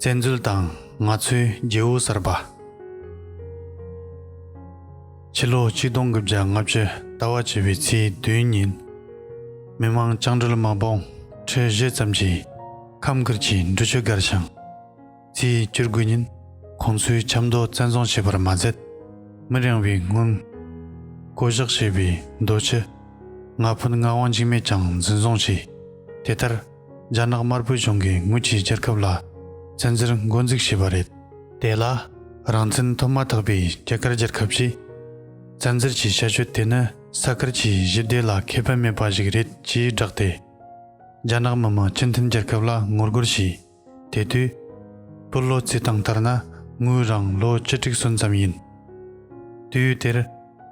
བཙན་འཛུལ་དང་ང་ཚོའི་རྒྱལ་བོ་གསར་པ། ཕྱི་ལོ་ཆིག་སྟོང་དགུ་བརྒྱ་ལྔ་བཅུ་ཟླ་བ་བྱི་བའི་ཚེས་བདུན་ཉིན། མི་མང་སྤྱང་གྲུལ་མ་བོང་ཁྲི་བཞི་ཙམ་གྱིས་ཁམས་ཁུལ་གྱི་འབྲུ་ཆུ་སྒར་བྱང་རྩིས་བསྐྱུར་དགོས་ཉིན་ཁོང་ཚོའི་ཆབ་མདོ་བཙན་བཟུང་བྱས་པར་མ་ཟད། མི་རིང་བའི་སྔོན། བསྐོ་བཞག་བྱས་པའི་རྡོ་ཆུ་ལྔ་ཕུན་ལྔ་དབང་འཇིགས་མེད་ཀྱང་འཛིན་བཟུང་བྱས། དེ་ལྟར། རྒྱ་ནག་དམར་པོའི་གཞུང་གིས་དངུལ་གྱིས་རྒྱལ་ཁབ་ལ་བཙན་འཛུལ་མགོ་འཛུགས་བྱས་པ་རེད། དེ་ལ་རང་བཙན་ཐོབ་མ་ཐག་པའི་རྒྱ་གར་རྒྱལ་ཁབ་ཀྱིས་བཙན་འཛུལ་གྱི་བྱ་སྤྱོད་དེ་ནི་ས་དཀར་གྱི་ཞི་བདེ་ལ་ཁེ་ཕན་མེད་པ་ཞིག་རེད་ཅེས་བསྒྲགས་ཏེ། རྒྱ་ནག་མི་དམངས་སྤྱི་མཐུན་རྒྱལ་ཁབ་ལ་ངོ་རྒོལ་བྱས། དེ་དུས། པུར་ལོ་རྩིས་སྟངས་ལྟར་ན་དངུལ་རང་ལོ་བཅུ་དྲུག་སོན་ཙམ་ཡིན། དུས་དེར།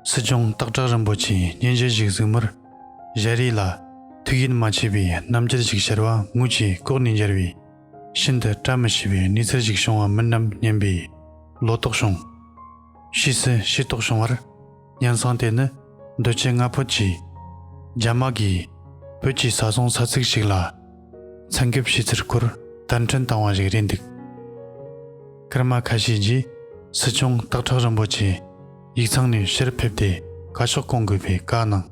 སྲིད་སྐྱོང་སྟག་བྲག་རིན་པོ་ཆེས་སྙན་ཞུ་ཞིག་གཟིགས་མུར། རས་རིས་ལ། ཐུགས་ཡིད་མ་ཆེས་པའི་རྣམ་རྒྱལ་ཞིག་ཤར་བ་ངུ་ཅིག་ལྐོག་ནས་འབྱར་བས། ཤིན་ཏུ་བཀྲ་མི་ཤིས་པའི་གནས་ཚུལ་ཞིག་བྱུང་བ་མིན་ནམ་སྙམ་པས། ལོ་ཏོག་བྱུང། ཕྱིས་སུ་ཤེས་རྟོགས་བྱུང་བར། གཉེན་སྲང་དེ་ནི་རྡོ་ཆེ་ལྔ་ཕོད་ཅིག། རྒྱ་དམག་གིས་བོད་ཀྱི་ས་སྲུང་ས་ཚིགས་ཤིག་ལ། ཚན་འགེབས་བྱས་ཚུལ་སྐོར་བསྟར་འཕྲིན་བཏང་བ་ཞིག་རེད་འདུག། སྐར་མ་ཁ་ཤས་རྗེས་སྲིད་སྐྱོང་སྟག་བྲག་རིན་པོ་ཆེས། ཡིག་ཚང་ནས་ཕྱིར་ཕེབས་ཏེ་བཀའ་ཤག་སྐོང་དགོས་པའི་བཀའ་གནང།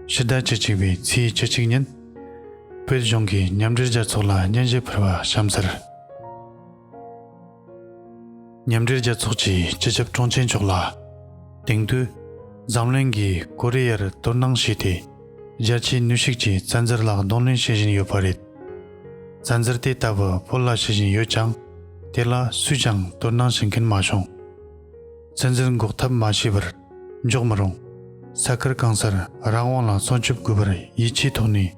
ཕྱི་ཟླ་བཅུ་གཅིག་པའི་ཚེས་བཅུ་གཅིག་ཉིན། བོད་གཞུང་གིས་མཉམ་འབྲེལ་རྒྱལ་ཚོགས་ལ་སྙན་ཞུ་ཕུལ་བ་གཤམ་གསལ། མཉམ་འབྲེལ་རྒྱལ་ཚོགས་ཀྱི་སྤྱི་ཁྱབ་དྲུང་ཆེ་མཆོག་ལ། དེང་དུས་འཛམ་གླིང་གིས་ཀོ་རི་ཡར་དོར་སྣང་བྱས་ཏེ། རྒྱལ་སྤྱིའི་ནུས་ཤུགས་ཀྱིས་བཙན་འཛུལ་ལ་གདོང་ལེན་བྱེད་བཞིན་ཡོད་པ་རེད། བཙན་འཛུལ་དེ་ལྟ་བུ་བོད་ལ་བྱེད་བཞིན་ཡོད་ཀྱང། དེ་ལ་སུས་ཀྱང་དོར་སྣང་བྱེད་མཁན་མ་བྱུང། ཚན་རྩལ་འགོག་ཐབས་མ་བྱས་པར་འཇོག་མི་རུང། ས་ཁུལ་གང་སར་རང་དབང་ལ་སྲུང་སྐྱོབ་དགོས་པར་ཡིད་ཆེས་ཐོག་ནས།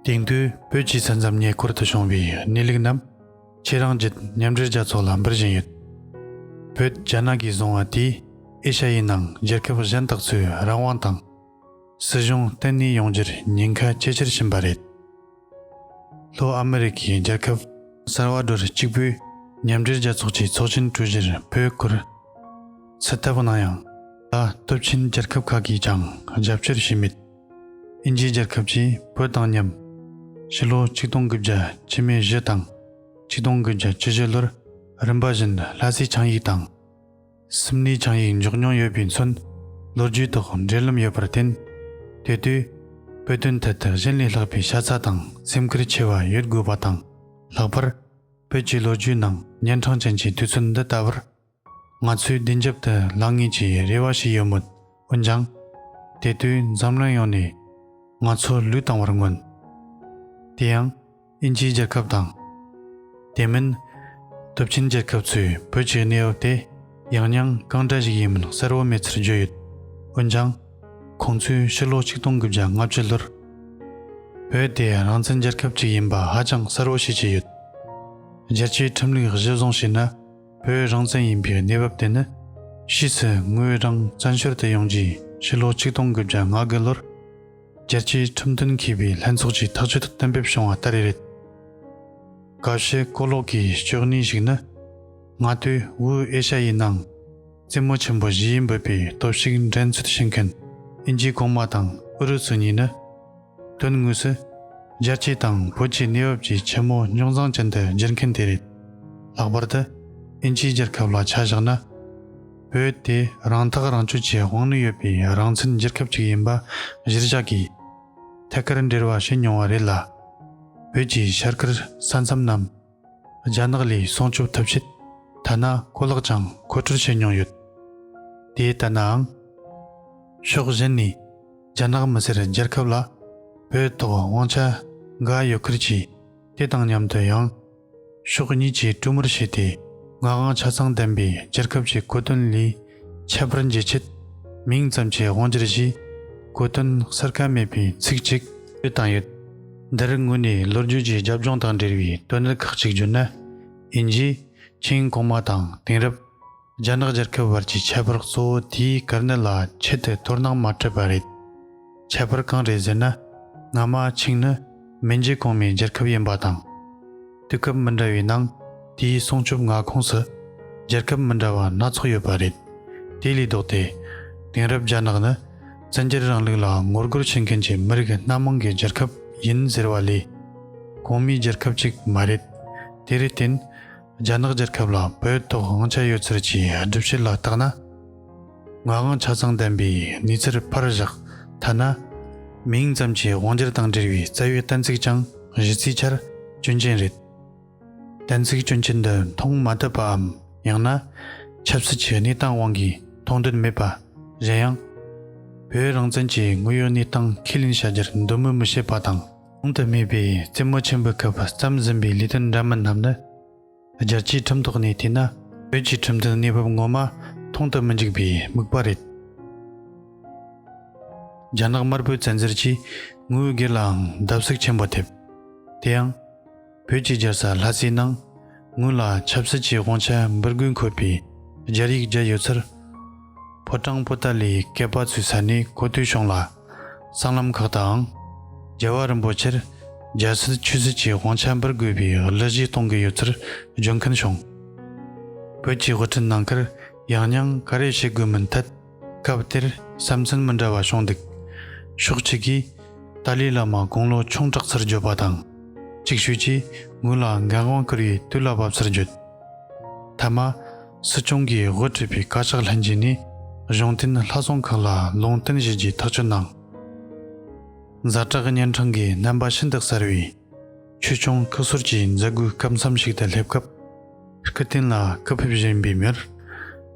དེང་དུས་བོད་ཀྱི་ས་མཚམས་ཉེ་འཁོར་དུ་བྱུང་བའི་གནས་ལུགས་རྣམས་ཁྱེད་རང་བརྒྱུད་མཉམ་འབྲེལ་རྒྱལ་ཚོགས་ལ་འབུལ་བཞིན་ཡོད། བོད་རྒྱ་ནག་གིས་བཟུང་བ་དེས་ཨེ་ཤ་ཡའི་ནང་རྒྱལ་ཁབ་གཞན་དག་ཚོའི་རང་དབང་དང། སྲིད་གཞུང་བརྟན་གནས་ཡོང་རྒྱུར་ཉེན་ཁ་ཇེ་ཆེར་ཕྱིན་པ་རེད། ལྷོ་ཨ་མེ་རི་ཁའི་རྒྱལ་ཁབ་སར་བ་དྲོར་གཅིག་པུའི་མཉམ་འབྲེལ་རྒྱལ་ཚོགས་ཀྱི་ཚོགས་ཆེན་གྲོལ་རྗེས་བོད་སྐོར་སུ་ལྟ་བུ་གནང་ཡང། ད་སྟོབས་ཆེན་རྒྱལ་ཁབ་ཁག་གིས་ཀྱང་རྒྱབ་སྐྱོར་བྱས་མེད། ཨིན་ཇིའི་རྒྱལ་ཁབ་ཀྱིས་བོད་དང་མཉམ། ཕྱི་ལོ་ཆིག་སྟོང་དགུ་བརྒྱ་ཆི་མེད་བཞི་དང་ཆིག་སྟོང་དགུ་བརྒྱ་ཆི་བཞི་ལོར་རིམ་པ་བཞིན་ལྷ་སའི་ཆིངས་ཡིག་དང། སུམ་ནི་ཆང་ཡིག་འཇོག་མྱོང་ཡོད་པས་མཚོན། ལོ་རྒྱུས་ཐོག་འབྲེལ་ལམ་ཡོད་པར་བརྟེན། དེ་དུས། བོད་དོན་ཐད་དུ་གཞན་ལས་ལྷག་པའི་ཤ་ཚ་དང་སེམས་ཁུར་ཆེ་བ་ཡོད་དགོས་པ་དང། ལྷག་པར། བོད་ཀྱི་ལོ་རྒྱུས་ནང་གཉན་འཕྲང་ཅན་གྱི་དུས་ཚོད་འདི་ལྟ་བུར། ང་ཚོས་བདེན་རྒྱབ་ཏུ་ལངས་ངེས་ཀྱི་རེ་བ་ཞིག་ཡོད་མོད། འོན་ཀྱང། དེ་དུས་འཛམ་གླིང་ཡོངས་ནས། ང་ཚོ་ལུས་བཏང་བར་མངོན། དེ་ཡང། དབྱིན་ཇིའི་རྒྱལ་ཁབ་དང། དེ་མིན། སྟོབས་ཆེན་རྒྱལ་ཁབ་ཚོས་བོད་ཀྱི་གནས་བབ་དེ་ཡང་སྙིང་གང་འདྲ་ཞིག་ཡིན་མིན་གསལ་བོ་མེད་ཚུལ་བརྗོད་ཡོད། འོན་ཀྱང། ཁོང་ཚོས་ཕྱི་ལོ་ཆིག་སྟོང་དགུ་བརྒྱ་ལྔ་བཅུ་ལོར། བོད་དེ་རང་བཙན་རྒྱལ་ཁབ་ཅིག་ཡིན་པ་ཧ་ཅང་གསལ་བོ་ཤེས་ཀྱི་ཡོད། རྒྱལ་སྤྱིའི་ཁྲིམས་ལུགས་གཞིར་བཟུང་བྱས་ན་བོད་རང་བཙན་ཡིན་པའི་གནས་བབ་དེ་ནི། ཕྱིས་སུ་ངོས་རང་བཙན་བྱོལ་དུ་ཡོང་རྗེས་ཕྱི་ལོ་ཆིག་སྟོང་དགུ་བརྒྱ་ང་དགུ་ལོར། རྒྱལ་སྤྱིའི་ཁྲིམས་མཐུན་མཁས་པའི་ལྷན་ཚོགས་ཀྱིས་ཐག་གཅོད་དུ་གཏན་འབེབས་བྱུང་བ་ལྟར་རེད། ག་ཤེད་གོ་ལོག་གི་སྤྱོད་གནས་ཤིག་ནི། སྔ་དུས་དབུས་ཨེ་ཤ་ཡའི་ནང་རྩེད་མོ་ཆེན་པོ་བཞིའི་འབོད་པའི་སྟོབས་ཤུགས་འགྲན་རྩོད་བྱེད་མཁན་ཨིན་ཇི་གོང་མ་དང་ཨུ་རུ་སུ་གཉིས་ནི། དོན་དངོས་སུ། རྒྱལ་སྤྱི་དང་བོད་ཀྱི་གནས་བབ་ཀྱི་ཆེ་མོ་རྙོག་འཛིང་ཅན་དུ་བསྒྱུར་མཁན་དེ་རེད། ལྷག་པར་དུ་ཨིན་ཇིའི་རྒྱལ་ཁབ་ལ་ཆ་བཞག་ན། བོད་དེ་རང་ཐག་རང་གཅོད་ཀྱི་དབང་ནུས་ཡོད་པའི་རང་བཙན་རྒྱལ་ཁབ་ཅིག་ཡིན་པ་གཞིར་བཞག་གིས། ཐད་ཀར་འབྲེལ་བ་བྱས་མྱོང་བ་རེད་ལ། བོད་ཀྱི་ཤར་ཁུལ་ས་མཚམས་རྣམས་རྒྱ་ནག་ལས་སྲུང་སྐྱོབ་ཐུབ་ཆེད་ཐ་ན་གོ་ལག་ཀྱང་མཁོ་སྤྲོད་བྱས་མྱོང་ཡོད། དེ་ལྟ་ནའང། ཕྱོགས་གཞན་ནས་རྒྱ་ནག་མི་སེར་རྒྱལ་ཁབ་ལ་བོད་ཐོག་དབང་ཆ་འགའ་ཡོད་ཁུལ་གྱིས་དེ་དང་མཉམ་དུ་ཡང། ཕྱོགས་གཉིས་ཀྱིས་གྲོས་མོལ་བྱས་ཏེ་ངག་དབང་ཆ་ཚང་ལྡན་པའི་རྒྱལ་ཁབ་ཀྱི་བཀོད་དོན་ལས་ཁྱད་པར་འབྱེད་ཆེད། མིང་ཙམ་གྱི་དབང་སྒྱུར་གྱིས་བཀོད་དོན་གསར་ཁ་མེད་པའི་ཚིག་གཅིག་པུ་བཏང་ཡོད། འདིར་ངོས་ནས་ལོ་རྒྱུས་ཀྱི་རྒྱབ་ལྗོངས་དང་འབྲེལ་བའི་དོན་གནད་ཁག་གཅིག་བརྗོད་ན། དབྱིན་ཇིའི་ཆིང་གོང་མ་དང་དེང་རབས། རྒྱ་ནག་རྒྱལ་ཁབ་བར་གྱི་ཁྱད་པར་གཙོ་བོ་དེའི་དཀའ་གནད་ལ་ཆེད་དུ་དོ་སྣང་མ་སྤྲད་པ་རེད། ཁྱད་པར་གང་རེད་ཟེར་ན། སྔ་མ་ཆིང་ནི་མིང་རྒྱུད་གོང་མའི་རྒྱལ་ཁབ་ཡིན་པ་དང། དུས་སྐབས་མི་འདྲ་བའི་ནང་དེའི་སྲུང་སྐྱོབ་མངའ་ཁོངས་སུ་རྒྱལ་ཁབ་མི་འདྲ་བ་སྣ་ཚོགས་ཡོད་པ་རེད། དེ་ལས་ལྡོག་སྟེ། དེང་རབས་རྒྱ་ནག་ནི་བཙན་རྒྱལ་རིང་ལུགས་ལ་ངོ་རྒོལ་བྱེད་མཁན་གྱི་མི་རིགས་སྣ་མང་གི་རྒྱལ་ཁབ་ཡིན་ཟེར་བ་ལས། གོང་མའི་རྒྱལ་ཁབ་ཅིག་མ་རེད། དེར་བརྟེན། རྒྱ་ནག་རྒྱལ་ཁབ་ལ་བོད་ཐོག་དབང་ཆ་ཡོད་ཚུལ་གྱི་སྒྲུབ་བྱེད་ལ་བརྟག་ན། ང་དབང་ཆ་ཚང་ལྡན་པའི་གནས་ཚུལ་ཕར་བཞག་ཐ་ན་མིང་ཙམ་གྱི་དབང་སྒྱུར་དང་འབྲེལ་བའི་རྩ་བའི་གཏན་ཚིགས་ཀྱང་གཞི་རྩའི་ཆར་སྐྱོན་ཅན་རེད། གཏན་ཚིགས་སྐྱོན་ཅན་འདི་མཐོང་མ་ཐུབ་པའམ་ཡང་ན་ཆབ་སྲིད་ཀྱི་གནས་སྟངས་དབང་གིས་མཐོང་འདོད་མེད་པ། གཞན་ཡང། བོད་རང་བཙན་གྱི་དངོས་ཡོད་གནས་སྟངས་ཁས་ལེན་བྱ་རྒྱུར་འདོད་མོས་མི་བྱེད་པ་དང། གོང་དུ་སྨོས་པའི་རྩེ་མོ་ཆེན་པོའི་སྐབས་བརྩམས་ཟིན་པའི་ལས་དོན་འདྲ་མིན་རྣམས་ནི། རྒྱལ་སྤྱིའི་ཁྲིམས་ཐོག་ནས་བལྟས་ན་བོད་ཀྱི་ཁྲིམས་དོན་གནས་བབ་ངོ་མ་མཐོང་དུ་མི་འཇུག་པའི་དམིགས་པ་རེད། རྒྱ་ནག་དམར་པོའི་བཙན་འཛུལ་གྱིས་དངུལ་སྒེར་ལའང་བརྡབ་གསིག་ཆེན་པོ་ཐེབས། དེ་ཡང། བོད་ཀྱི་རྒྱལ་ས་ལྷ་སའི་ནང་ངོས་ལ་ཆབ་སྲིད་ཀྱི་དབང་ཆ་འབུར་དགུས་འཁོད་པའི་སྦྱར་ཡིག་བརྒྱད་ཡོད་ཚུལ། ཕོ་བྲང་པོ་ཏཱ་ལའི་བསྐལ་པ་ཚོའི་ས་ནས་གོ་ཐོས་བྱུང་ལ། སྲང་ལམ་ཁག་ཏུའང་རྒྱལ་བ་རིན་པོ་ཆེར་རྒྱལ་སྲིད་ཆོས་སྲིད་ཀྱི་དབང་ཆ་འབུར་དགོས་པའི་གླུ་གཞས་གཏོང་གི་ཡོད་ཚུལ་བརྗོད་མཁན་བྱུང། བོད་ཀྱི་དབུ་ཁྲིད་ནང་ཁུར་ཡང་སྙིང་ག་རེ་བྱེད་དགོས་མིན་ཐད། སྐབས་དེར་བསམ་ཚུལ་མི་འདྲ་བ་བྱུང་འདུག་ཕྱོགས་གཅིག་གིས་ཏཱ་ལའི་བླ་མ་དགུང་ལོ་ཆུང་དྲགས་ཚར་བརྗོད་པ་དང། ཅིག་ཤོས་ཀྱིས་ངོས་ལ་འགན་དབང་བསྐུར་བའི་དུས་ལ་བབ་ཚར་བརྗོད། མཐའ་མ། སྲིད་སྐྱོང་གིས་དབུ་ཁྲིད་པའི་བཀའ་ཤག་ལྷན་རྒྱས་ནས་གཞུང་བསྟེན་ལྷ་བསང་ཁང་ལ་ལུང་བསྟན་བཞེས་རྒྱུའི་ཐག་གཅོད་གནང། གཟའ་གྲགས་གཉན་འཕྲང་གི་རྣམ་པ་ཤིན་ཏུ་གསལ་བས། ཆོས་སྐྱོང་བཀའ་ཟུར་གྱིས་མཛད་སྒོའི་སྐབས་མཚམས་ཤིག་ཏུ་སླེབས་སྐབས། སྐུ་རྟེན་ལ་བཀའ་ཕེབས་བཞིན་པའི་མིར།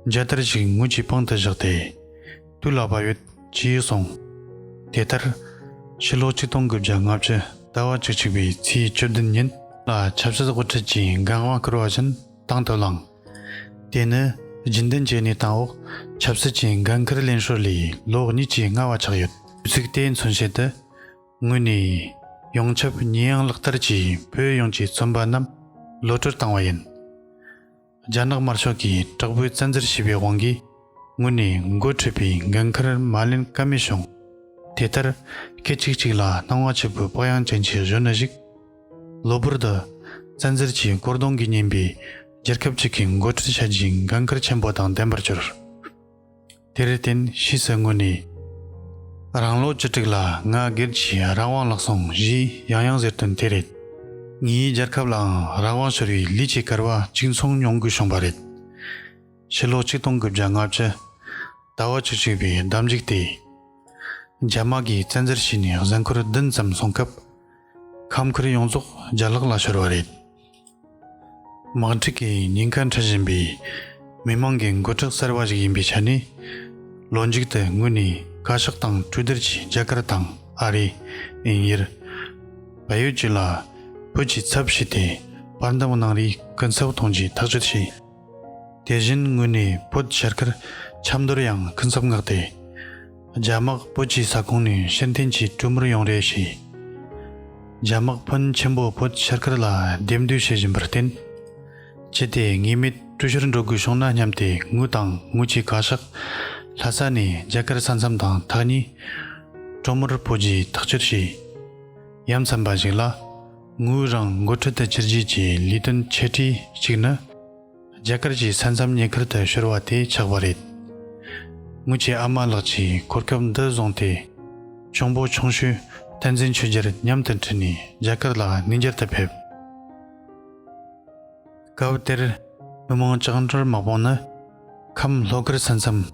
མཇལ་དར་ཞིག་ངུ་ཀྱི་པང་དུ་བཞག་སྟེ། དུས་ལ་བབ་ཡོད། ཅེས་གསུངས། དེ་ལྟར། ཕྱི་ལོ་ཆིག་སྟོང་དགུ་བརྒྱ་ལྔ་བཅུ་ཟླ་བ་གཅིག་གཅིག་པའི་ཚེས་བཅུ་བདུན་ཉིན་ལ་ཆབ་སྲིད་དབུ་ཁྲིད་ཀྱི་འགན་དབང་བསྐུར་བ་བཞིན་དང་དུ་བླངས། དེ་ནི་རྒྱུན་ལྡན་གྱི་གནས་སྟངས་འོག་ཆབ་སྲིད་ཀྱི་འགན་འཁུར་ལེན་ཧྲུལ་ལས་ལོ་གཉིས་ཀྱིས་སྔ་བ་ཆགས་ཡོད། གཟིགས་དེའི་མཚོན་བྱེད་དུ། ངོས་ནས་ཡོངས་ཁྱབ་ཉེས་ཡངས་ལག་བསྟར་གྱིས་བོད་ཡོངས་ཀྱི་བཙོན་པ་རྣམས་ལོ་སྤྲོད་བཏང་བ་ཡིན། རྒྱ་ནག་དམར་ཤོག་གིས་དྲག་པོའི་བཙན་འཛུལ་བྱས་པའི་དབང་གིས་ངོས་ནས་མགོ་ཁྲིད་པའི་འགན་ཁུར་མ་ལེན་ཀ་མེད་བྱུང། དེ་ལྟར་སྐད་ཅིག་གཅིག་ལ་སྣང་བ་ཆེ་པོའི་དཔག་ཡངས་ཅན་གྱི་གཞོན་ནུ་ཞིག་གློ་བུར་དུ་བཙན་འཛུལ་གྱིས་བསྐོར་གདུང་གིས་བསྙེན་པའི་རྒྱལ་ཁབ་ཅིག་གི་མགོ་ཁྲིད་བྱ་རྒྱུའི་འགན་ཁུར་ཆེན་པོ་དང་ལྡན་པར་གྱུར། དེར་བརྟེན་གཞི་རྩའི་ངོས་ནས། རང་ལོ་བཅུ་དྲུག་ལ་ང་སྒེར་གྱི་རང་དབང་བརླག་སོང་བཞི་ཡང་ཡང་ཟེར་དོན་དེ་རེད། ངའི་རྒྱལ་ཁབ་ལའང་རང་དབང་ཤོར་བའི་ལི་ཆེ་གར་བ་གཅིག་མཚུངས་མྱོང་དགོས་བྱུང་བ་རེད། ཕྱི་ལོ་ཆིག་སྟོང་དགུ་བརྒྱ་ལྔ་བཅུ་ཟླ་བ་བཅུ་གཅིག་པའི་ཟླ་མཇུག་དེ། རྒྱ་དམག་གིས་བཙན་འཛུལ་བྱས་ནས་གཟའ་འཁོར་བདུན་ཙམ་སོང་སྐབས། ཁམས་ཁུལ་ཡོངས་རྫོགས་རྒྱ་ལག་ལ་ཤོར་བ་རེད། དམག་འཁྲུག་གི་ཉེན་ཁ་འཕྲད་བཞིན་པའི་མི་དམངས་ཀྱི་མགོ་ཁྲིད་གསར་པ་ཞིག་ཡིན་པའི་ཆ་ནས། ལོ་མཇུག་ཏུ་དངོས་གནས་བཀའ་ཤག་དང་གྲོས་བསྡུར་གྱིས་རྒྱ་གར་དང་ཨ་རི། དབྱིན་ཡུལ། བལ་ཡུལ་བཅས་ལ་བོད་ཀྱི་ཚབ་བྱས་ཏེ་བར་འདུམ་གནང་རེའི་སྐུ་ཚབ་གཏོང་རྒྱུའི་ཐག་གཅོད་བྱས། དེ་བཞིན་དངོས་གནས་བོད་ཤར་ཁར་ཆབ་མདོར་ཡང་སྐུ་ཚབ་མངགས་ཏེ། རྒྱ་དམག་བོད་ཀྱི་ས་ཁོངས་ནས་ཕྱིར་འཐེན་གྱིས་གྲུ་མུར་ཡོང་རེ་བྱས། རྒྱ་དམག་ཕོན་ཆེན་པོ་བོད་ཤར་ཁར་ལ་རྡེབ་འདུས་བྱེད་བཞིན་པར་བརྟེན། ཅི་སྟེ་ངེས་མེད་གྲུ་ཤར་འགྲོ་དགོས་བྱུང་ན་སྙམ་སྟེ་ངུ་དང་ངུ་གྱིས་ག་ཤག་ལྷ་ས་ནས་རྒྱ་གར་ས་མཚམས་དང་ཐག་ཉེ། གྲུ་མུར་བོད་རྒྱའི་ཐག་གཅོད་བྱས། ཡ་མཚན་པ་ཞིག་ལ། ངོས་རང་མགོ་ཁྲིད་དུ་ཕྱིར་རྒྱུགས་ཀྱི་ལས་དོན་ཆེ་གྲས་གཅིག་ནི། རྒྱ་གར་གྱི་ས་མཚམས་ཉེ་ཁུལ་དུ་ཤོར་བ་དེ་ཆགས་པ་རེད། ངོས་ཀྱི་ཨ་མ་ལགས་ཀྱིས་གོ་སྐབས་འདི་བཟུང་སྟེ། གཅུང་པོ་ཆུང་ཤོས་བསྟན་འཛིན་ཆོས་རྒྱལ་མཉམ་དུ་འཁྲིད་ནས་རྒྱ་གར་ལ་གནས་འགྱར་དུ་ཕེབས། སྐབས་དེར་མི་མང་ལྕགས་འབྲུར་དམག་དཔུང་ནི། ཁམས་ལྷོ་ཁར་ས་མཚམས།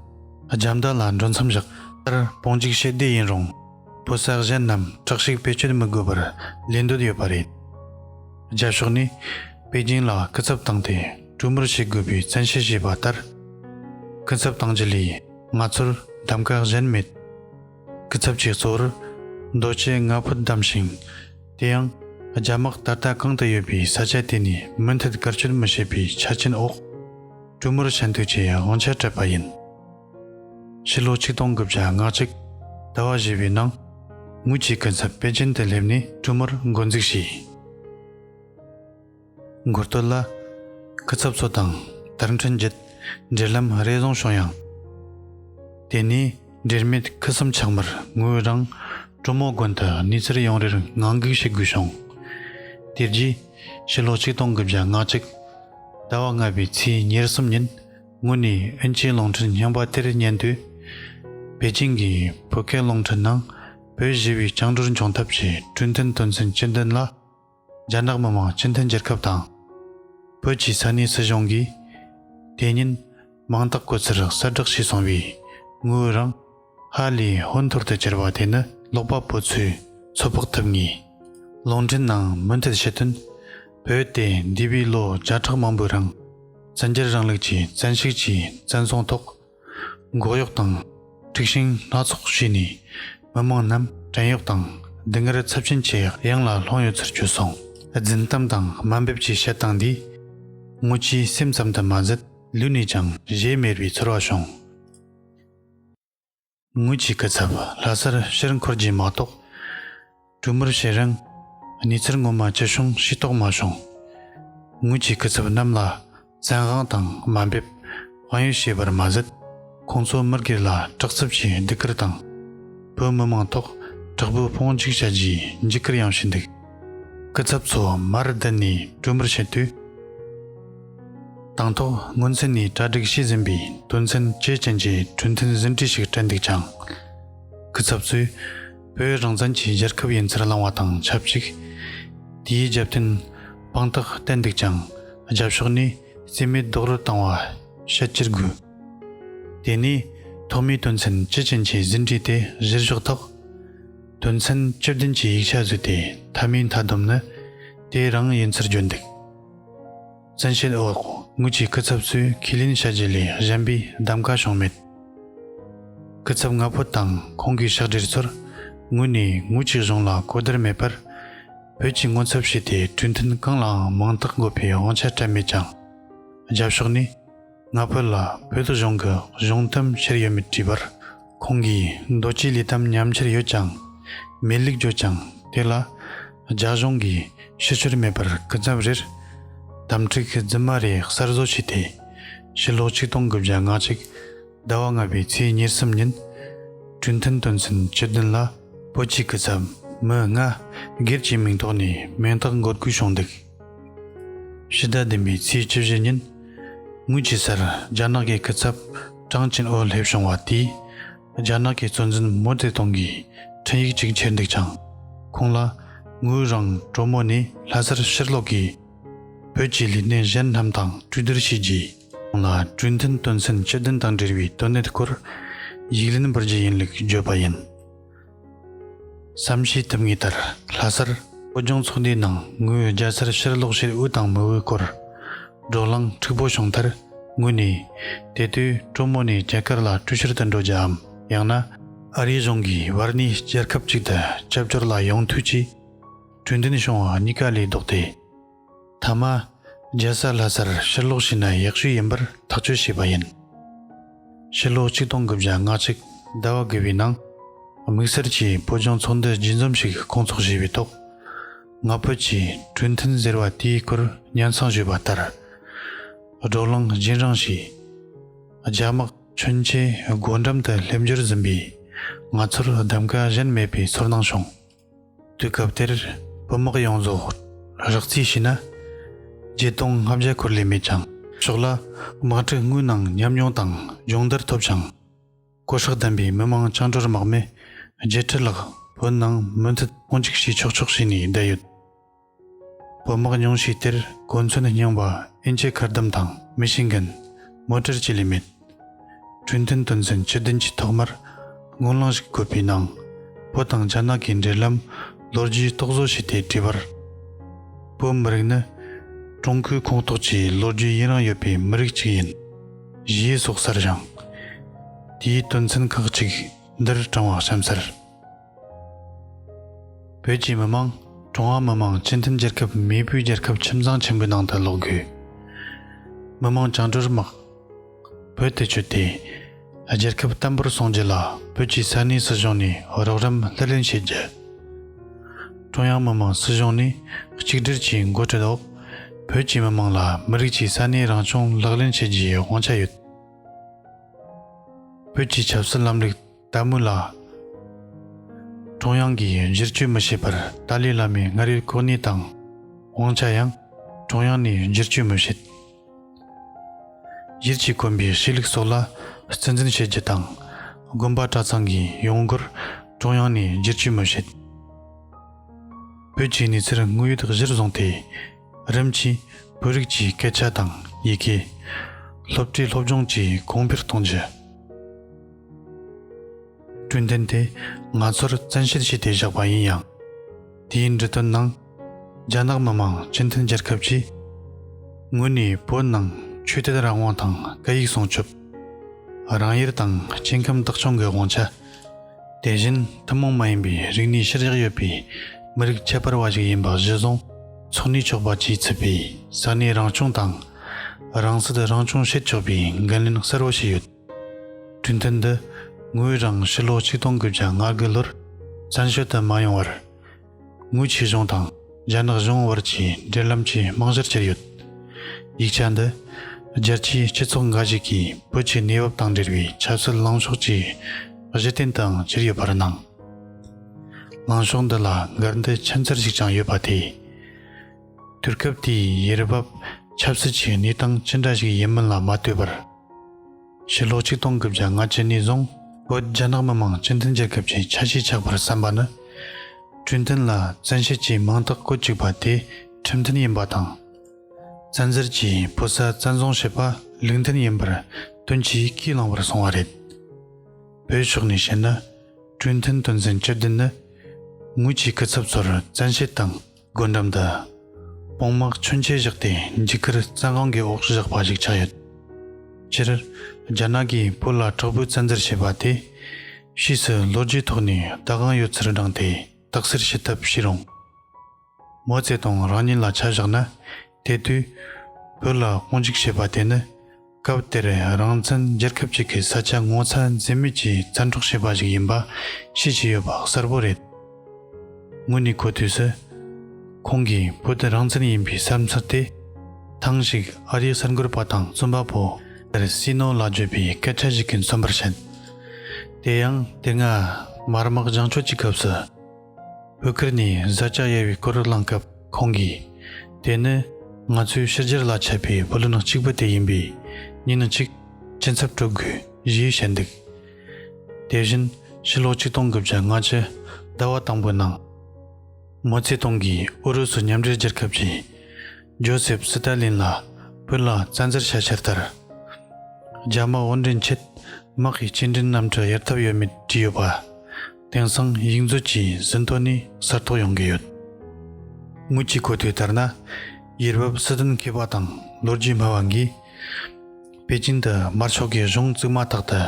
རྒྱ་མདའ་ལ་འགྲོ་མཚམས་བཞག། ལྟར་སྤོང་འཇིགས་བྱེད་སྡེ་ཡིན་རུང། བོད་ས་གཞན་རྣམས་དྲག་གཤེགས་བེད་སྤྱོད་མི་དགོས་པར་ལས་འདོད་ཡོད་པ་རེད། རྒྱ་ཕྱོགས་ནས་པེ་ཅིང་ལ་སྐུ་ཚབ་བཏང་སྟེ་གྲོས་མོལ་བྱེད་དགོས་པའི་བཙན་ཤེད་བྱས་པ་ལྟར། སྐུ་ཚབ་བཏང་རྒྱུ་ལས་ང་ཚོར་གདམ་ག་གཞན་མེད། གི་ཚབ་ཀྱིས་གཙོ་བོར་རྡོ་སྐྱེས་ལྔ་བུ་བདམས་ཤིང། དེ་ཡང། རྒྱ་དམག་ད་ལྟ་གང་དུ་ཡོད་པའི་ས་ཆ་དེ་ནས་མུ་མཐུད་བཀར་བསྐྱོད་མི་བྱེད་པའི་ཆ་རྐྱེན་འོག་གྲུ་མུར་ཆ་མཐུག་ཅེས་དབང་ཆ་སྤྲད་པ་ཡིན། ཕྱི་ལོ་ཆིག་སྟོང་དགུ་བརྒྱ་ང་གཅིག་ཟླ་བ་བཞི་བའི་ནང་དངུལ་གྱི་སྐུ་ཚབ་པེ་ཅིན་དུ་སླེབས་ནས་གྲུ་མུར་མགོ་འཛུགས་བྱས། མགོ་སྟོད་ལ། སྐུ་ཚབ་ཚོ་དང་དར་འཕྲིན་བརྒྱུད་འབྲེལ་ལམ་རེ་བཟུང་བྱུང་ཡང། དེ་ནས་འབྲེལ་མེད་ཁུ་སིམ་ཆགས་མར་ངོས་རང་གྲོ་མོ་དགོན་དུ་གནས་ཚུལ་ཡང་རེར་ངང་སྒུག་བྱེད་དགོས་བྱུང། དེ་རྗེས་ཕྱི་ལོ་ཆིག་སྟོང་དགུ་བརྒྱ་ང་གཅིག། ཟླ་བ་ལྔ་པའི་ཚེས་ཉེར་གསུམ་ཉིན་དངོས་གནས་ཨིན་སྐྱའི་གླིང་ཕྲན་རྙིང་པ་དེར་བསྙེན་དུས། པེ་ཅིང་གི་བོད་སྐད་གླིང་ཕྲན་ནང་བོད་གཞི་བའི་བཅིངས་འགྲོལ་འབྱུང་ཐབས་ཀྱི་གྲོས་མཐུན་དོན་ཚན་བཅུ་བདུན་ལ། རྒྱ་ནག་མི་དམངས་སྤྱི་མཐུན་རྒྱལ་ཁབ་དང། བོད་ཀྱི་ས་གནས་སྲིད་གཞུང་གིས་དེ་ཉིན་མིང་རྟགས་བཀོད་ཚུལ་གསལ་བསྒྲགས་བྱས་སོང་བའི་དངུལ་རིང་ཧ་ལས་ཧོན་ཐོར་དུ་གྱར་བ་དེ་ནི་ཀློག་པ་པོ་ཚོས་ཚོད་དཔག་ཐུབ་ངེས། ལུང་འདྲེན་ནང་མུ་མཐུད་ཞུས་དོན། བོད་དེ་འདས་པའི་ལོ་བརྒྱ་ཕྲག་མང་པོའི་རིང་བཙན་རྒྱལ་རིང་ལུགས་ཀྱི་བཙན་ཤུགས་ཀྱིས་བཙན་བཟུང་ཐོག་འགོག་གཡོག་དང་འཁྲུག་ཤིང་སྣ་ཚོགས་བྱས་ནས་མི་མང་རྣམས་བྲན་གཡོག་དང་སྡུག་བསྔལ་ཚབས་ཆེན་གྱི་གཡང་ལ་ལྷུང་ཡོད་ཚུལ་བརྗོད་སོང། རྫུན་གཏམ་དང་དམའ་འབེབས་ཀྱི་བཤད་སྟངས་འདིས། སྔོན་ཆད་སེམས་ཙམ་དུ་མ་ཟད་ལུས་ནས་ཀྱང་གཞལ་མེད་པའི་ཚོར་བ་བྱུང། ངོས་ཀྱིས་སྐུ་ཚབ་ལྷ་སར་ཕྱིར་འཁོར་རྗེས་མ་གཏོགས། གྲོས་མོལ་བྱེད་རིང་གནས་ཚུལ་ངོ་མ་ཅི་བྱུང་ཤེས་རྟོགས་མ་བྱུང། ངོས་ཀྱིས་སྐུ་ཚབ་རྣམས་ལ་བཙན་དབང་དང་དམའ་འབེབས་དཔང་ཡིག་བྱས་པར་མ་ཟད། ཁོང་ཚོ་མི་སྒེར་ལ་དྲག་རྩུབ་ཀྱིས་སྡུག་སྐུལ་དང། བོད་མི་མང་ཐོག་དྲག་པོའི་དཔུང་འཇུག་བྱ་རྒྱུའི་འཇིགས་སྐུལ་ཡང་བྱས་འདུག་སྐུ་ཚབ་ཚོ་མར་བསྡད་ནས་གྲོས་མོལ་བྱེད་དུས། དང་ཐོག་སྔོན་ཚུད་ནས་གྲ་སྒྲིག་བྱས་ཟིན་པའི་དོན་ཚན་བཅས་ཅན་གྱི་གྲོས་མཐུན་ཟིན་བྲིས་ཤིག་སྤྲད་འདུག་ཀྱང། སྐུ་ཚབ་ཚོས་བོད་རང་བཙན་གྱི་རྒྱལ་ཁབ་ཡིན་ཚུལ་བླངས་བ་དང་ཆབས་ཅིག་དེའི་རྒྱབ་རྟེན་དཔང་རྟགས་བསྟན་འདུག་ཀྱང་རྒྱབ་ཕྱོགས་ནས་རྩིས་མེད་རྡོག་རོལ་བཏང་བ་བཤད་ཀྱི་དགོས། དེ་ནས་ཐོག་མའི་དོན་ཚན་བཅས་ཅན་གྱི་ཟིན་བྲིས་དེ་གཞིར་བཞག་ཐོག་དོན་ཚན་བཅུ་བདུན་གྱི་ཡིག་ཆ་བཟོས་ཏེ་མཐའ་མའི་མཐའ་བསྡོམས་ནི་དེ་རང་ཡིན་ཚུལ་བརྗོད་འདུག། བཙན་ཤེད་འོག་དངུལ་གྱི་སྐུ་ཚབ་ཚོས་ཁས་ལེན་བྱ་རྒྱུ་ལས་གཞན་པའི་གདམ་ག་བྱུང་མེད། སྐུ་ཚབ་ལྔ་པོ་དང་ཁོང་གི་ཕྱག་སྦྲེལ་ཚོར་དངོས་ནས་དངུལ་གྱི་གཞུང་ལ་གོ་བདེར་མེད་པར། བོད་ཀྱི་སྔོན་ཚབ་བྱས་ཏེ་གྲོས་མཐུན་གང་ལའང་མིང་རྟགས་འགོད་པའི་དབང་ཆ་སྤྲད་མེད་ཀྱང། རྒྱབ་ཕྱོགས་ནས། ང་ཕོད་ལ་བོད་དོ་གཞུང་གི་གཞུང་གཏམ་ཤེར་ཡོད་མེད་དྲིས་པར་ཁོང་གིས་རྡོ་སྐྱིད་ལི་གཏམ་ཉམས་ཁྱེར་ཡོད་ཀྱང་མེད་ལིག་བརྗོད་ཀྱང་དེ་ལ་རྒྱ་གཞུང་གིས་ཤི་ཕྱིར་མེད་པར་སྐུ་ཚབ་རེར་དམ་ཁྲིག་རྫུན་མ་རེ་གསར་བཟོ་བྱས་ཏེ་ཕྱི་ལོ་ཆིག་སྟོང་དགུ་བརྒྱ་ང་གཅིག་ཟླ་བ་ལྔ་པའི་ཚེས་ཉེར་གསུམ་ཉིན་གྲོས་མཐུན་དོན་ཚན་བཅུ་བདུན་ལ་བོད་ཀྱི་སྐུ་ཚབ་མི་ལྔ་སྒེར་གྱི་མིང་ཐོག་ནས་མིང་རྟགས་འགོད་དགོས་བྱུང་འདུག། ཕྱི་ཟླ་འདི་མའི་ཚེས་བཅུ་བཞི་ཉིན་དངུལ་གྱི་སར་རྒྱ་ནག་གི་སྐུ་ཚབ་ཀྲང་ཅིན་ཨོ་སླེབས་བྱུང་བ་དེས་རྒྱ་ནག་གི་གཙོ་འཛིན་མོ་ཙེ་ཏུང་གིས་འཕྲིན་ཡིག་ཅིག་འཁྱེར་འདུག་ཅིང། ཁོང་ལ་དངུལ་རང་གྲོ་མོ་ནས་ལྷ་སར་ཕྱིར་སློག་གིས། བོད་ཀྱི་ལས་སྣེ་གཞན་རྣམས་དང་གྲོས་བསྡུར་བྱས་རྗེས་ཁོང་ལ་གྲོས་མཐུན་དོན་ཚན་བཅུ་བདུན་དང་འབྲེལ་བའི་དོན་གནད་སྐོར་ཡིག་ལན་འབུལ་རྒྱུ་ཡིན་ལུགས་བརྗོད་པ་ཡིན། བསམ་ཤེས་ཐུབ་ངེས་ལྟར་ལྷ་སར། བོད་ལྗོངས་ཚོགས་འདུའི་ནང་ངོས་རྒྱ་སར་ཕྱིར་ལོག་ཕྱིར་དབུས་དང་མུའུ་སྐོར། འབྲོག་གླང་འཁྲུག་པོ་བྱུང་མཐར་ངུས་ནས། དེ་དུས་གྲོ་མོ་ནས་རྒྱ་གར་ལ་བཀྲུ་བཤེར་དུ་འགྲོ་རྒྱུའམ་ཡང་ན། ཨ་རིའི་གཞུང་གིས་བར་ནས་རྒྱལ་ཁབ་ཅིག་ཏུ་ཆབ་སྦྱོར་ལ་ཡོང་དུས་ཀྱི་གྲོས་འདོན་བྱུང་བ་གཉིས་ཀ་ལས་ལྡོག་སྟེ། མཐའ་མ། རྒྱལ་ས་ལྷ་སར་ཕྱིར་ལོག་བྱས་ན་ཡག་ཤོས་ཡིན་པར་ཐག་གཅོད་བྱས་པ་ཡིན། ཕྱིར་ལོག་གཅིག་སྟོང་དགུ་བརྒྱ་ང་གཅིག་ཟླ་བ་དགུ་བའི་ནང། དམིགས་བསལ་གྱིས་བོད་ལྗོངས་ཚོགས་འདུ་རྒྱུན་འཛོམས་ཤིག་བསྐོང་ཚོགས་བྱས་པའི་ཐོག། ང་ཕོད་ཀྱིས་གྲོས་མཐུན་ཟེར་བ་དེའི་སྐོར་ཉར་མཚང་ཞུས་པ་ལྟར། སྒྲོག་ལང་སྦྱིན་རང་གིས། རྒྱ་དམག་མཚོན་ཆའི་སྒོ་འགྲམ་དུ་སླེབས་འགྱུར་འཛིན་པས་ང་ཚོར་གདམ་ག་གཞན་མེད་པའི་ཚོར་སྣང་བྱུང། དུས་སྐབས་དེར་བོད་དམག་ཡོངས་རྫོགས་རགས་རྩིས་བྱས་ན་བརྒྱད་སྟོང་ལྔ་བརྒྱ་འཁོར་ལས་མེད་ཀྱང་ཆོག་ལ་དམག་འཁྲུག་དངོས་ནང་ཉམས་མྱོང་དང་སྦྱོང་བརྡར་ཐོབ་ཅིང་ཀོ་ཧྲག་ལྡན་པའི་མི་མང་སྤྱང་གྲུར་དམག་མི་བརྒྱད་ཁྲི་ལྷག་བོད་ནང་མུ་མཐུད་དཔུང་འཇུག་བྱས་ཆོག་ཆོག་བྱས་ནས་བསྡད་ཡོད། བོད་དམག་ཉུང་ཤས་དེར་གོ་མཚོན་རྙིང་པ་ཨིན་ཆའི་མཁར་དམ་དང་མི་ཤི་འགན། མོ་ཏྲེར་བཅས་ལས་མེད། གྲོས་མཐུན་དོན་ཚན་བཅུ་བདུན་གྱི་ཐོག་མར་དངུལ་བླངས་ཤིག་བཀོད་པའི་ནང། བོད་དང་རྒྱ་ནག་གི་འབྲེལ་ལམ་ལོ་རྒྱུས་རྟོག་བཟོ་བྱས་ཏེ་བྲིས་པར། བོད་མི་རིགས་ནི་ཀྲུང་གོའི་ཁོངས་གཏོགས་ཀྱི་ལོ་རྒྱུས་ཡུན་རིང་ཡོད་པའི་མི་རིགས་གཅིག་ཡིན། ཞེས་སོགས་གསལ་བཞེངས། དེའི་དོན་ཚན་ཁག་གཅིག་འདིར་དྲངས་བ་གཤམ་གསལ། བོད་ཀྱི་མི་དམངས་ཀྲུང་ཧྭ་མི་དམངས་སྤྱི་མཐུན་རྒྱལ་ཁབ་མེས་པོའི་རྒྱལ་ཁབ་ཁྱིམ་ཚང་ཆེན་པོའི་ནང་དུ་ལོག་དགོས། མི་དམངས་བཅིངས་འགྲོལ་དམག་བོད་དུ་བསྐྱོད་དེ། རྒྱལ་ཁབ་བརྟན་པོར་སྲུང་རྒྱུ་ལ་བོད་ཀྱི་ས་གནས་སྲིད་གཞུང་ནས་རོགས་རམ་ལྷུར་ལེན་བྱེད་རྒྱུ། ཀྲུང་དབྱང་མི་དམངས་སྲིད་གཞུང་ནས་གཅིག་སྒྲིལ་གྱི་འགོ་ཁྲིད་འོག་བོད་ཀྱི་མི་དམངས་ལ་མི་རིགས་ཀྱི་ས་གནས་རང་སྐྱོང་ལག་ལེན་བྱེད་རྒྱུའི་དབང་ཆ་ཡོད། བོད་ཀྱི་ཆབ་སྲིད་ལམ་ལུགས་ཏཱ་མུ་ལ། ཀྲུང་དབྱང་གིས་གཞིར་བཅོལ་མི་བྱེད་པར་ཏཱ་ལའི་བླ་མའི་སྔར་ཡོད་གོ་གནས་དང་དབང་ཆ་ཡང་ཀྲུང་དབྱང་ནས་བསྒྱུར་བཅོས་མི་བྱེད། གཞིར་བྱས་དཀོན་པའི་ཤེས་ལུགས་སོགས་ལ་བརྩི་འཛིན་བྱེད་རྒྱུ་དང། དགོན་པ་གྲྭ་ཚང་གི་ཡོང་སྒོར་ཀྲུང་དབྱང་ནས་བསྒྱུར་བཅོས་མི་བྱེད། བོད་ཀྱི་གནས་ཚུལ་དངོས་ཡོད་གཞིར་བཟུང་སྟེ་རིམ་གྱིས་བོད་རིགས་ཀྱི་སྐད་ཆ་དང་ཡི་གེ། སློབ་གྲྭའི་སློབ་སྦྱོང་བཅས་གོང་འཕེལ་གཏོང་རྒྱུ། བསྐྲུན་དོན་དེ་ང་ཚོར་བཙན་ཤེད་བྱས་ཏེ་བཞག་པ་ཡིན་ཡང། དེའི་འབྲི་དོན་ནང། རྒྱ་ནག་མི་མང་སྤྱི་མཐུན་རྒྱལ་ཁབ་ཀྱི་ངོས་ནས་བོད་ནང་ཆོས་དད་རང་དབང་དང་སྐད་ཡིག་སྲུང་སྐྱོབ། རང་དབྱེར་དང་སྐྱེ་ཁམས་བདག་སྐྱོང་གི་དབང་ཆ། དེ་བཞིན་ཐུན་མོང་མ་ཡིན་པའི་རིག་གནས་གཤེར་རྒྱག་ཡོད་པའི་མི་རིགས་ཁྱད་པར་བ་ཞིག་ཡིན་པ་གཞི་བཟུང་ཚུགས་ནས་ཆོག་པ་བཅས་ཚུད་པའི་ས་གནས་རང་སྐྱོང་དང། རང་སྲིད་རང་སྐྱོང་བྱེད་ཆོག་པའི་འགན་ལེན་གསལ་བོ་བྱས་ཡོད། གྲོས་མཐུན་འདི་ངོས་རང་ཕྱི་ལོ་ཆིག་སྟོང་གི་བརྒྱ་ང་དགུ་ལོར་བཙན་བྱོལ་དུ་མ་ཡོང་བར་དངུལ་ཆེ་གཞུང་དང་རྒྱ་ནག་གཞུང་དབར་གྱི་འབྲེལ་ལམ་གྱི་རྨང་གཞིར་གྱུར་ཡོད། ཡིག་ཆ་འདི་རྒྱལ་སྤྱིའི་སྤྱི་ཚོགས་འགའ་ཞིག་གིས་བོད་ཀྱི་གནས་བབ་དང་འབྲེལ་བའི་ཆབ་སྲིད་ལངས་ཕྱོགས་ཀྱི་གཞི་རྟེན་དུའང་གྱུར་ཡོད་པར་སྣང། ལངས་ཕྱོགས་འདི་ལ་འགལ་ཟླའི་ཁྱིམ་མཚར་ཞིག་ཀྱང་ཡོད་པ་དེས། དུས་སྐབས་དེའི་ཡེ་རི་བབ་ཆབ་སྲིད་ཀྱི་གནས་སྟངས་ཅི་འདྲ་ཞིག་ཡིན་མིན་ལ་མ་ལྟོས་པར། ཕྱི་ལོ་ཆིག་སྟོང་གི་བརྒྱ་ང་བཅུ་ནས་བཟུང་བོད་རྒྱ་ནག་མི་དམངས་སྤྱི་མཐུན་རྒྱལ་ཁབ་ཀྱི་ཆ་ཤས་ཆགས་པར་བསམ་པ་ནི། གྲོས་མཐུན་ལ་བཙན་ཤེད་ཀྱིས་མིང་རྟགས་བཀོད་བཅུག་པ་དེ་ཁྲིམས་མཐུན་ཡིན་པ་དང། བཙན་འཛུལ་གྱིས་བོད་ས་བཙན་བཟུང་བྱས་པ་ལུགས་མཐུན་ཡིན་པར་དོན་གྱིས་ཁས་བླངས་པར་སོང་བ་རེད། བོད་ཕྱོགས་ནས་བཤད་ན་གྲོས་མཐུན་དོན་ཚན་བཅུ་བདུན་ནི་ངོས་ཀྱི་སྐུ་ཚབ་ཚོར་བཙན་ཤེད་དང། སྒོ་འགྲམ་དུ་དཔུང་དམག་མཚོན་ཆས་བཞག་སྟེ་འཇིགས་སྐུལ་རྩྭ་སྒང་གི་འོག་བཞག་པ་ཞིག་ཆགས་ཡོད། སྤྱིར་རྒྱ་ནག་གིས་བོད་ལ་དྲག་པོའི་བཙན་འཛུལ་བྱས་པ་དེ་ཕྱིས་སུ་ལོ་རྒྱུས་ཐོག་ནས་ཟླ་གང་ཡོད་ཚུལ་བགྲངས་ཏེ་དག་སེལ་བྱེད་ཐབས་བྱས་རུང། མའོ་ཙེ་ཏུང་རང་ཉིད་ལ་ཆ་བཞག་ན་དེ་དུས་བོད་ལ་དཔུང་འཇུག་བྱས་པ་དེ་ནི། སྐབས་དེར་རང་བཙན་རྒྱལ་ཁབ་ཅིག་གི་ས་ཆ་ངོ་ཚ་འཛེམ་མེད་ཀྱིས་བཙན་འཕྲོག་བྱས་པ་ཞིག་ཡིན་པ་ཤེས་ཀྱི་ཡོད་པ་གསལ་པོ་རེད། དངོས་གནས་གོ་དུས་སུ། ཁོང་གིས་བོད་དེ་རང་བཙན་ཡིན་པའི་བསམ་ཚུལ་དེ། ཐེངས་ཤིག་ཨ་རིའི་གསར་འགོད་པ་དང་རྩོམ་པ་པོ་ཀེར་སི་ནོ་ལ་བརྗོད་པའི་སྐད་ཆ་ཞིག་གི་མཚོན་པར་བྱེད། དེ་ཡང་དེ་སྔ་དམར་དམག་བྱང་ཆུབ་ཀྱི་སྐབས་སུ། བོད་ཁུལ་ནས་བཟའ་བཅའ་གཡར་བའི་སྐོར་བླངས་སྐབས་ཁོང་གིས། དེ་ནི་ང་ཚོའི་ཕྱི་རྒྱལ་ལ་ཆད་པའི་བུ་ལོན་གཅིག་པུ་དེ་ཡིན་པས་ཉིན་གཅིག་སྐྱིན་ཚབ་སྤྲོད་དགོས་ཞེས་བཤད་འདུག་དེ་བཞིན་ཕྱི་ལོ་ཆིག་སྟོང་དགུ་བརྒྱ་ལྔ་བཅུ་ཟླ་བ་དང་པོའི་ནང། མའོ་ཙེ་ཏུང་གིས་ཨུ་རུ་སུ་མཉམ་འབྲེལ་རྒྱལ་ཁབ་ཀྱིས་ཇོ་སེབ་སི་ཏཱ་ལིན་ལ་བོད་ལ་བཙན་འཛུལ་བྱ་འཆར་ལྟར། རྒྱ་དམག་དབོར་འདྲེན་ཆེད་དམག་གི་སྐྱེལ་འདྲེན་རྣམ་གྲངས་གཡར་ཐབས་ཡོད་མེད་བྲིས་ཡོད་པ། དེང་སང་ཡིག་མཛོད་ཀྱི་ཟིན་ཐོ་ནི་གསར་ཐོག་ཡོང་གི་ཡོད། དངུལ་གྱི་གོ་ཐོས་ལྟར་ན། ཡུལ་བབ་སྲིད་དོན་མཁས་པ་དང་ལོ་རྒྱུས་སྨྲ་བ་འགས། པེ་ཅིན་དུ་དམར་ཕྱོགས་ཀྱི་གཞུང་བཙུགས་མ་ཐག་ཏུ།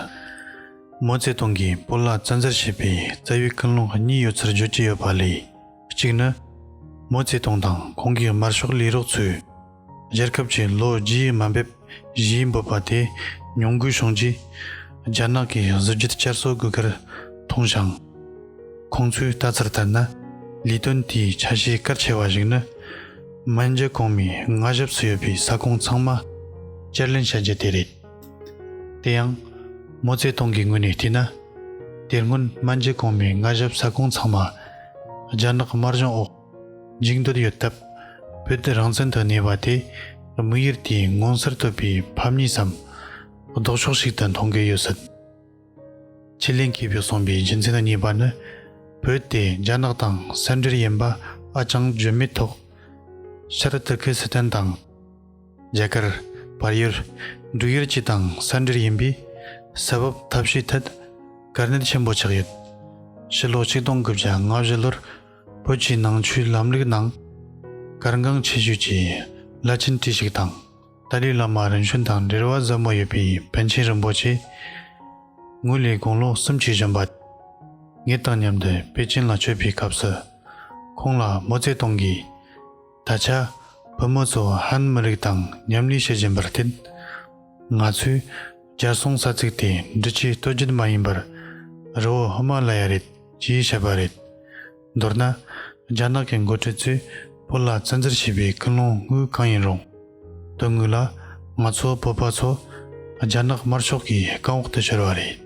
མོ་ཙེ་ཏུང་གིས་པོ་ལ་བཙན་འཛུལ་བྱས་པའི་རྩ་བའི་ཀུན་སློང་གཉིས་ཡོད་ཚུལ་བརྗོད་ཀྱི་ཡོད་པ་ལས། གཅིག་ནི། མའོ་ཙེ་ཏུང་དང་ཁོང་གི་དམར་ཤོག་ལས་རོགས་ཚོས་རྒྱལ་ཁབ་ཀྱི་ལོ་རྒྱུས་ཡི་དམའ་འབེབས་གཞིའི་འབོད་པ་དེ་མྱོང་གུས་བྱུང་རྗེས། རྒྱ་ནག་གི་གཟི་བརྗིད་བསྐྱར་གསོ་དགོས་ཁར་མཐོང་ཞིང། ཁོང་ཚོའི་ལྟ་ཚུལ་ལྟར་ན། ལས་དོན་དེའི་ཆ་ཤས་གལ་ཆེ་བ་ཞིག་ནི། མན་ཇཱི་གོང་མའི་མངའ་ཞབས་སུ་ཡོད་པའི་ས་ཁོངས་ཚང་མ་བསྐྱར་ལེན་བྱ་རྒྱུ་དེ་རེད། དེ་ཡང། མོ་རྩེ་གཏོང་གི་ངོས་ནས་བལྟས་ན། དེར་སྔོན་སྨན་རྒྱལ་གོང་མའི་མངའ་ཞབས་ས་ཁོངས་ཚང་མ་ལྗང་ནག་དམར་ལྗོངས་འོག་འཇིག་འདོད་ཡོད་སྟབས། བོད་དུ་རང་བཙན་དུ་གནས་པ་དེ་དམིགས་ཡུལ་དེའི་མངོན་གསལ་དོད་པའི་ཕམ་ཉེས་སམ། ལྡོག་ཕྱོགས་ཤིག་ཏུ་མཐོང་གི་ཡོད་སྲིད། ཁྱི་ལིན་གྱིས་བོད་གསུངས་པའི་རྒྱུ་མཚན་གཉིས་པ་ནི། བོད་དེ་རྒྱ་ནག་དང་གསེར་འབྲེལ་ཡིན་པ་ཨ་ཅང་བརྗོད་མེད་ཐོག་ཤར་ཏུར་ཁི་སི་ཐན་དང། རྒྱ་གར། བར་ཡུལ། འབྲུག་ཡུལ་བཅས་དང་ས་འབྲེལ་ཡིན་པས། ས་བབ་ཐབས་ཤེས་ཐད་དཀའ་གནད་ཆེན་པོ་ཆགས་ཡོད། ཕྱི་ལོ་ཆིག་སྟོང་དགུ་བརྒྱ་ང་བཞི་ལོར་བོད་ཀྱི་ནང་ཆོས་ལམ་ལུགས་ནང་གར་འགངས་ཆེ་ཤོས་ཀྱི་བླ་ཆེན་ཁྲི་ཞིག་དང་ཏཱ་ལའི་བླ་མ་རིམ་བྱོན་དང་འབྲེལ་བ་ཟབ་མོ་ཡོད་པའི་པཎ་ཆེན་རིན་པོ་ཆེ་དངོས་ལས་དགུང་ལོ་སུམ་ཅུ་བཞོན་པ། ངེད་དང་མཉམ་དུ་པེ་ཅིན་ལ་བསྐྱོད་པའི་སྐབས་སུ། ཁོང་ལ་མོ་རྩེ་གཏོང་གིས། ད་ཆ་བུ་མོ་ཚོ་ཧན་མི་རིགས་དང་མཉམ་གནས་བྱེད་བཞིན་པར་བརྟེན། ང་ཚོས་རྒྱལ་སྲུང་ས་ཚིགས་དེ་འབྲི་ཆུའི་སྟོད་རྒྱུད་མ་ཡིན་པར་རི་བོ་ཧི་མ་ལ་ཡ་རེད་ཅེས་བཤད་པ་རེད། མདོར་ན། རྒྱ་ནག་གི་འགོ་ཁྲིད་ཚོས་བོད་ལ་བཙན་འཛུལ་བྱས་པའི་ཀུན་སློང་དངོས་གང་ཡིན་རུང། དོན་དངོས་ལ་ང་ཚོ་བོད་པ་ཚོ་རྒྱ་ནག་དམར་ཤོག་གི་རྐང་འོག་ཏུ་གྱུར་བ་རེད།